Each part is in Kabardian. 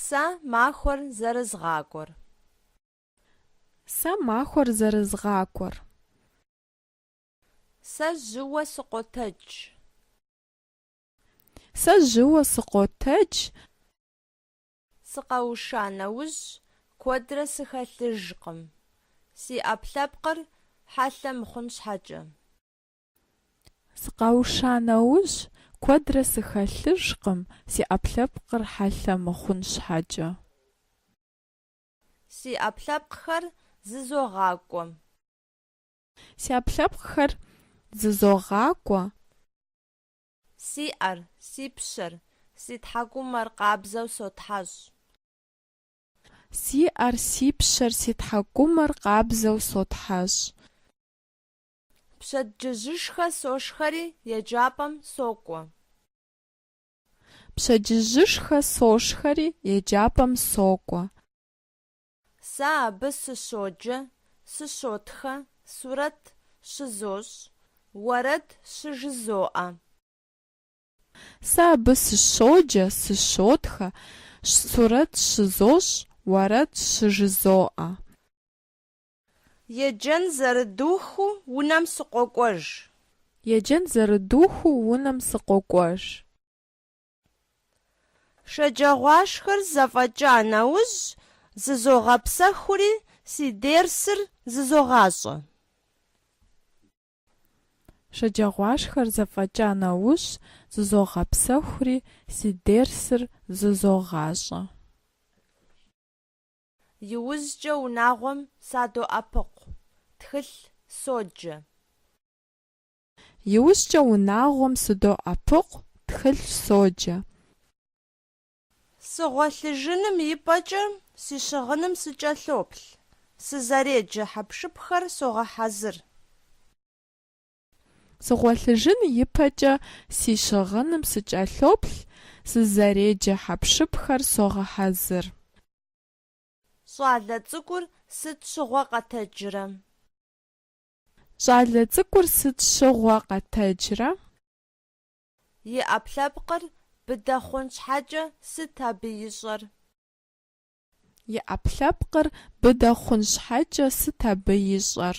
Сэ махуэр зэрызгъакӏуэр. Сэ махуэр зэрызгъакӏуэр. Сэ жьыуэ сыкъотэдж. Сэ жьыуэ сыкъотэдж. Сыкъэуша нэужь куэдрэ сыхэлъыжкъым, си ӏэпкълъэпкъыр хьэлъэ мыхъун щхьэкӏэ. Сыкъэуша нэужь, куэдрэ сыхэлъыжкъым, си ӏэпкълъэпкъыр хьэлъэ мыхъун щхьэкӏэ. Си ӏэпкълъэпкъхэр зызогъакӏуэ. Си ӏэпкълъэпкъхэр зызогъакӏуэ. Си ӏэр, си пщэр, си тхьэкӏумэр къабзэу сотхьэщӏ. Си ӏэр, си пщэр, си тхьэкӏумэр къабзэу сотхьэщӏ. Пщэдджыжьышхэ сошхэри еджапӏэм сокӏуэ. Пщэдджыжьышхэ сошхэри еджапӏэм сокӏуэ. Сэ абы сыщоджэ, сыщотхэ, сурэт щызощӏ, уэрэд щыжызоӏэ. Сэ абы сыщоджэ, сыщотхэ, сурэт щызощӏ, уэрэд щыжызоӏэ. Еджэн зэрыдухыу унэм сыкъокӏуэж. Еджэн зэрыдухыу унэм сыкъокӏуэж. Шэджагъуашхэр зэфӏэкӏа нэужь, зызогъэпсэхури, си дерсыр зызогъащӏэ. Шэджагъуашхэр зэфӏэкӏа нэужь, зызогъэпсэхури, си дерсыр зызогъащӏэ. Иужькӏэ унагъуэм садоӏэпыкъу, тхылъ соджэ. Иужькӏэ унагъуэм сыдоӏэпыкъу, тхылъ соджэ. Сыгъуэлъыжыным и пӏэкӏэ си щыгъыным сыкӏэлъоплъ, сызэреджэ хьэпшыпхэр согъэхьэзыр. Сыгъуэлъыжын ипэкӏэ си щыгъыным сыкӏэлъоплъ, сызэреджэ хьэпшыпхэр согъэхьэзыр. Щӏалэ цӏыкӏур сыт щыгъуэ къэтэджрэ? Щӏалэ цӏыкӏур сыт щыгъуэ къэтэджрэ? И ӏэпкълъэпкъыр быдэ хъун щхьэкӏэ сыт абы ищӏэр? И ӏэпкълъэпкъыр быдэ хъун щхьэкӏэ сыт абы ищӏэр?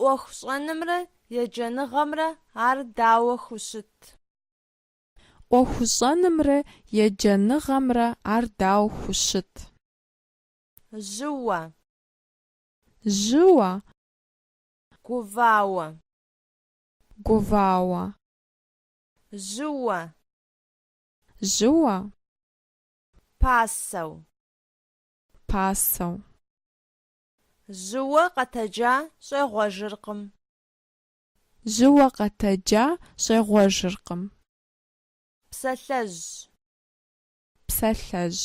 ӏуэху щӏэнымрэ еджэныгъэмрэ ар дауэ хущыт? ӏуэху щӏэнымрэ еджэныгъэмрэ ар дауэ хущыт? Жьыуэ. Жьыуэ. Гувауэ. Гувауэ. Жьыуэ. Жьыуэ. Пасэу. Пасэу. Жьыуэ къэтэджа щӏегъуэжыркъым. Жьыуэ къэтэджа щӏегъуэжыркъым. Псалъэжь. Псалъэжь.